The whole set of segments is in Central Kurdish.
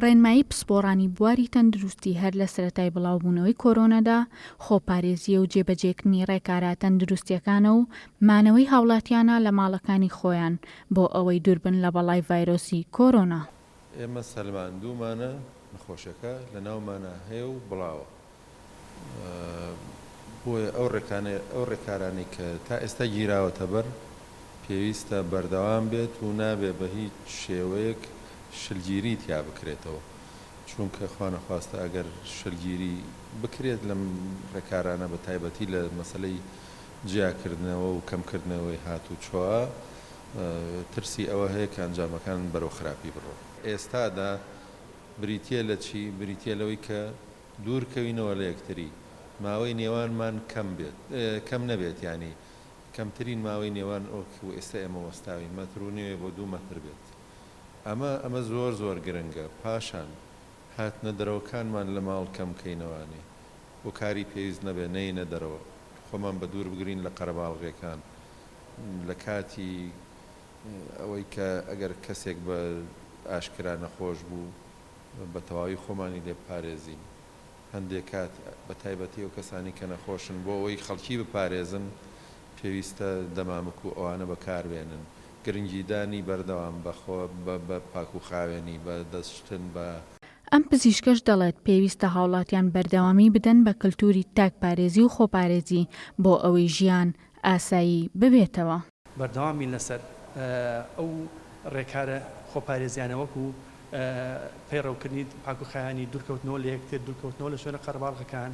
ڕێنمایی پسپۆڕانی بواری تەندروستی هەر لە سەرەتای بڵاوبوونەوەی کۆرۆنادا، خۆپارێزییە و جێبەجێکردنی ڕێکارە تەندروستییەکانە و مانەوەی هاوڵاتییانە لە ماڵەکانی خۆیان بۆ ئەوەی دووربن لە بەڵای ڤایرۆسی کۆرۆنا. ئێمە سەلماندوومانە نەخۆشەکە لەناومانا هەیە و بڵاوە. بۆیە ئەو ڕێکانەی ئەو ڕێکارانەی کە تا ئێستا گیراوەتەبەر پێویستە بەردەوام بێت و نابێ بە هیچ شێوەیەک شلگیری تیا بکرێتەوە چوونکە خوانەخواستە ئەگەر شلگیری بکرێت لەم ڕێکارانە بە تایبەتی لە مەسەلەی جیاکردنەوە و کەمکردنەوەی هاتووچۆا ترسی ئەوە هەیە کە ئەنجامەکان بەرەو خراپی بڕۆن. ئێستادا بریتیە لە چی؟ بریتیە لەوەی کە دوورکەوینەوە لە یەکتری ماوەی نێوانمان کەم بێت کەم نەبێت یانی کەمترین ماوەی نێوان ئۆک و ئێستا ئێمە وەستاوین مەتر و نێوێ بۆ دوو مەتر بێت ئەمە ئەمە زۆر زۆر گرنگە پاشان هاتنە دەرەوەکانمان لە ماڵ کەم کەینەوانی بۆ کاری پێویست نەبێ نەینە دەرەوە خۆمان بە دوور بگرین لە قەرەباڵغیەکان لە کاتی ئەوەی کە ئەگەر کەسێک بە ئاشکرا نەخۆش بوو. بە تەواوی خۆمانی لێ بپارێزین هەندێ کات بە تایبەتی ئەو کەسانەی کە نەخۆشن بۆ ئەوەی خەڵکی بپارێزن پێویستە دەمامک و ئەوانە بە کار بێنن گرنگی دانی بەردەوام بە خۆ بە پاکوخاوێنی بە دەست شتن بە ئەم پزیشکەش دەڵێت پێویستە هاوڵاتیان بەردەوامی بدەن بە کلتوری تاک پارێزی و خۆپارێزی بۆ ئەوەی ژیان ئاسایی ببێتەوە. بەردەوامین لەسەر ئەو ڕێکارە خۆپارێزیانە وەکو پەیڕەوکردنی پاکوخاوێنی، دوورکەوتنەوە لە یەکتر، دوورکەوتنەوە لە شوێنە قەرەباڵغەکان،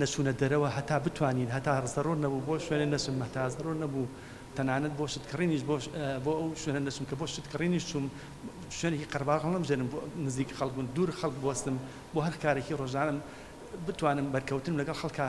نەچوونە دەرەوە هەتا بتوانین هەتا زەرور نەبوو بۆ شوێنێ نەچم، هەتا زەرور نەبوو تەنانەت بۆ شتکڕینیش بۆ بۆ ئەو شوێنە نەچم کە بۆ شتکڕینیش چووم شوێنێکی قەرەباڵغ هەڵنەبژێرم بۆ نزیک خەڵک بوون دوور خەڵک بوەستم بۆ هەر کارێکی ڕۆژانەم بتوانم بەرکەوتنم لەگەڵ خەڵکا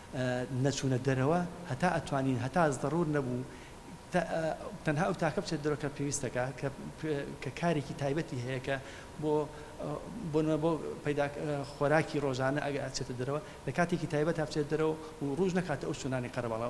نەچوونە دەرەوە هەتا ئەتوانین هەتا زەڕوور نەبوو تا تەنها ئەو تاکە بچێت دەرەوە کە پێویستەکە کە کە کارێکی تایبەتی هەیە کە بۆ بۆ نمە بۆ پەیدا خۆراکی ڕۆژانە ئەگە ئەچێتە دەرەوە لە کاتێکی تایبەت هەبچێت دەرەوە و ڕوژ نەکاتە ئەو چونانی قەرەباڵە